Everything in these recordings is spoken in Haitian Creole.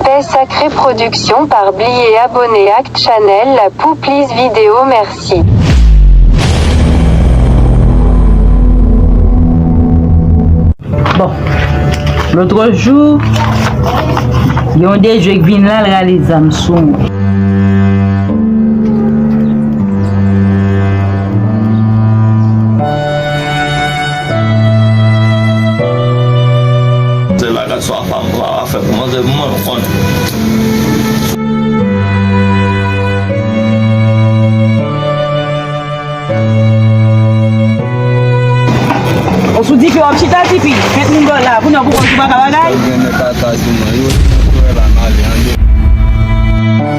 Tè sakre production par bliye abone ak channel la pou plis video merci. Bon Lotro jou Gen yon dejwe k vin la l rale zam sou mwen. Se bagay sa pa m ka fè pou manzè pou mwen konn.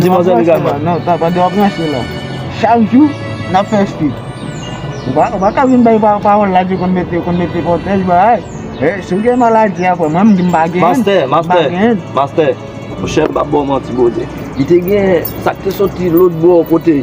Di manzè li kalman. Non, sa pande wap ranse la. Chak jou, nap fè stil. Ou pa ka vin bay pawòl la di konn mete, konn mete pwotèj bagay. E, si ou gen maladi a, mwen menm di m pa genyen. Mastè, mastè, mastè. Monchè m pap ba w manti bro de. Li te gen sak te soti lotbò kote.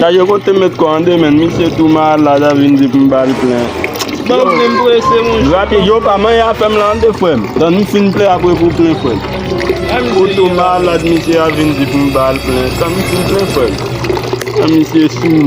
Chaje kote met kò an demen misye tou malad a vin di poum bal plen Grapiye yo pa manyen afèm lan de frèm Tann m fin plen apre pou w plen frèm Ou tou malad misye a vin di poum bal plen Tann m fin plen frèm An misye sou mous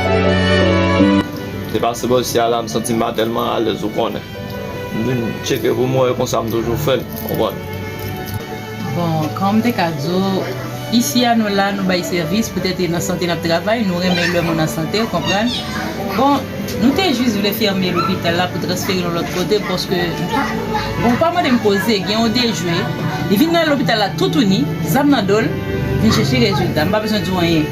Se pa sibò si ala m santi m pa tèlman alèz ou konnen. M vin tcheke pou m wè e konsa m toujou fè l, konprann. Bon, kòm m te ka di w, isi a nou la nou bay sèvis, poutèt e nan sante n ap travay, nou renmen lè moun an sante, ou konprann. Bon, nou te jis vle fèmen lopital la pou transfere nou lòt kote paske m pa. Bon, ou pa mande m koze, gen yon dejwe, li vin nan lopital la toutouni, zam nan do l, vin chèche rezilta. M pa bezwen di w anyen.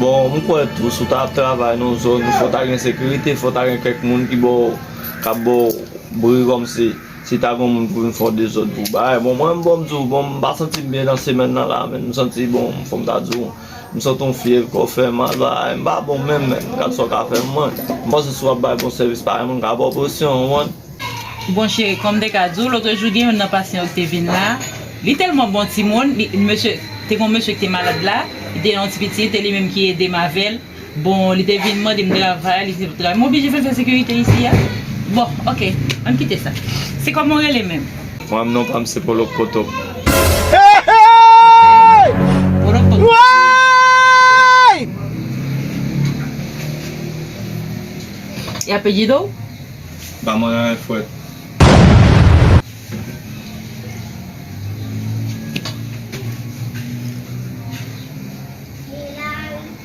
Bon, m kwè tou, si w ta ap travay nan yon zòn, fò w ta gen sekirite, fò w ta gen kèk moun ki ba w, k ap ba w bri kòmsi, si ta gen yon moun pou vin fè w dezòd pou w bay. Bon, mwen m bon m di w, bon m pa santi m byen nan semèn nan la a menn, m santi bon, fò m ta di w. M santi yon fyèv kò fè mal bagay m pa bon menm men gad sa w ka fè mwen m panse si w ap bay bon sèvis parèy mwen m ka ba w presyon ou wont. Bon cheri kòm m te ka di w lotre jou gen youn nan pasyan yo ki te vin la li tèlman bon timoun li mesye te gon mesye ki te malad la li te gen yon ti pitit e li menm ki ede m avè l Bon li te vin mande m travay li di travay m oblije fè l fè sekirite isi a bon ok ann kite sa se kòman w rele menm? Mwen menm non pa m se Polo Potop. E apelyido w? Ba mwen anyen fwèt.